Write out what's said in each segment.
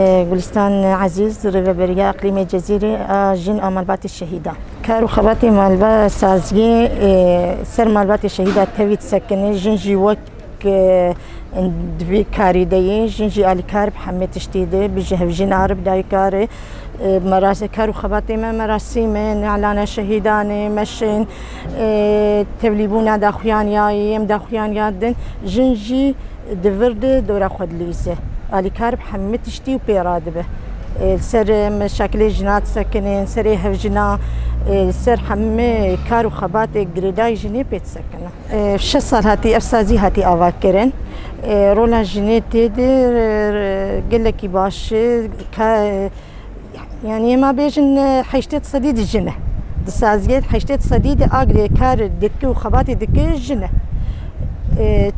Gulîstan Ezîz, Rêveberiya Îqlîmê Cezîrê a Jin a Malbatê Şehîda. Kar û xebatê malba saziyê ser malbatê şehîda tevî disekine, jin jî wek di vî karî de yê, jin jî alîkar bi hemê tiştî de, bi ji hevjîn a re, bi dayika re. Kar û xebatê me merasîm e, nalana şehîdan e, meşin, tevlîbûna daxuyaniyayê, yêm daxuyaniya din, jin jî. Di vir de dora xwe dilivîse. Alîkar bi hemû tiştî û pê re dibe. Li ser meşakilê jina disekine, li serê hevjina, li ser hemû kar û xebatê girêdayî jinê pê disekine. Şeş sal hatî ev sazî hatî avakirin. Rola jinê tê de gelekî baş e. Yanî ema bêjin heştêd sedî di jin e. Di saziyê heştêd sedî de agirê kar dike û xebatê dike jin e.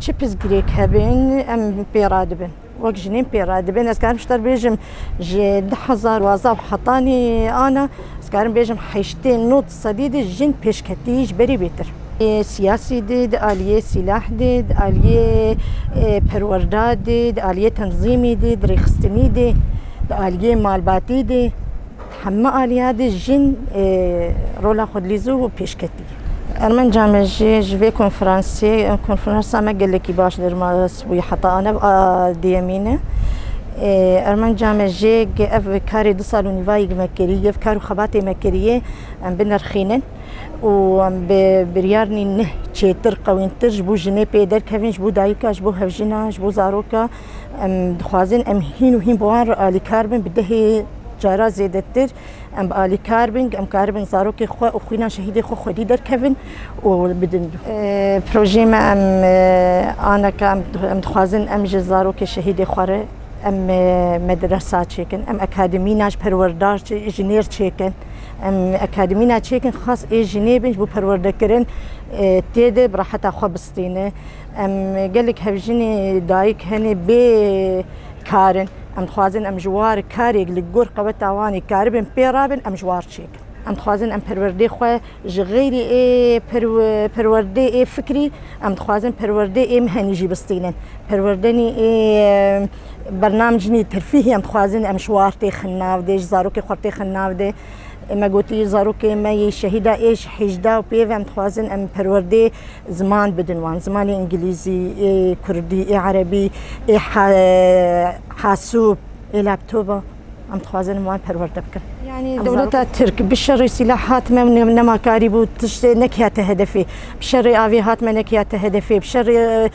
Çi pirsgirêk hebin em pê radibin. Wek jinên pê radibin ez karim ji te bêjim ji du hezar wazdeh û hetanî ana ez karim bêjim heştê nod Sedî di jin pêşketî ji berî bêtir. Siyasî di, di aliyê sîlah di, di aliyê perwerda di, di aliyê tenzîmî di, di rêxistinî di, di aliyê malbatî di, di heme aliya di jin rola xwe dilîzû û pêşketî. Ermenca me jî ji vê konferansê, konferansa me gelekî baş dir. Wî heta anev a duyemîn e. Armanca me jê ke ev karê du sal û nîvayî ke me kirî ye, ev kar û xebatê me kirîye em binirxînin û em bi biryarnî neh çêtir, qewîntir ji bo jinê pê derkevin, ji bo dayika, ji bo hevjina, ji bo zaroka. Em dixwazin em hîn û hîn bi wan re alîkar bin bi dehê cara zêdetir. Em bi alîkar bin, em karibin zarokên xwe û xwîna şehîdên xwe xwedî derkevin û bidin. Projeyê me em aneka em dixwazin em ji zarokê şehîdê xwe re em medresa çêkin, em akademîna ji perwerdar jinêr çêkin. Em akademîna çêkin xas ê jinê bin ji bo perwerdekirin tê de bi reheta xwe bistîne. Em gelek hevjinê dayik hene bê karin. Em dixwazin em ji war karek li gor qeweta wan ê karibin pê re bin, em ji war çêkin. Em dixwazin em perwerdê xwe ji xeyrê ê perwerdê ê fikrî, em dixwazin perwerdê ê mihenî jî bistînin. Perwerdenî ê bernamcnî terfîhî em dixwazin em ji war têxin navdê, ji zarokê xwe têxin navdê. Me gotiye zarokên me yê şehîda êş hêjda û pêv em dixwazin em perwerdê ziman bidin wan. Zimanê îngilîzî, ê kurdî, ê erebî, ê hasûb, ê laptoba em dixwazin wan perwerde bikin. Yanî dewleta Tirk bi şerê sîlah hatime û nemakarî bû tiştê nekiya te hedefê. Bi şerê avê hatime nekiya te hedefê. Bi şerê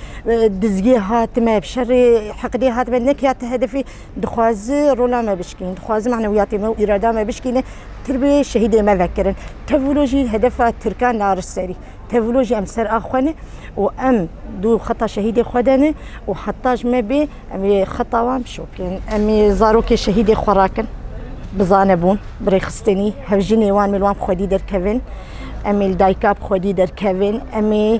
dizgê hatime, bi şerê hiqdê hatime nekiya te hedefê. Dixwaze rola me bişkînin, dixwaze manewiyatê me û îrada me bişkînin, tirbê şehîdê me vekirin. Tevlo jî hedefa tirkan naris serî. Tevlo jî em ser a xwe ne û em dû xeta şehîdê xwe de ne û heta ji me bê em ê xeta wan bişopin. Em ê zarokê şehîdê xwe rakin, bi zanebûn, bi rêxistinî, hevjinê wan ê li wan bi xwedî derkevin. Em ê li dayika bi xwedî derkevin. Em ê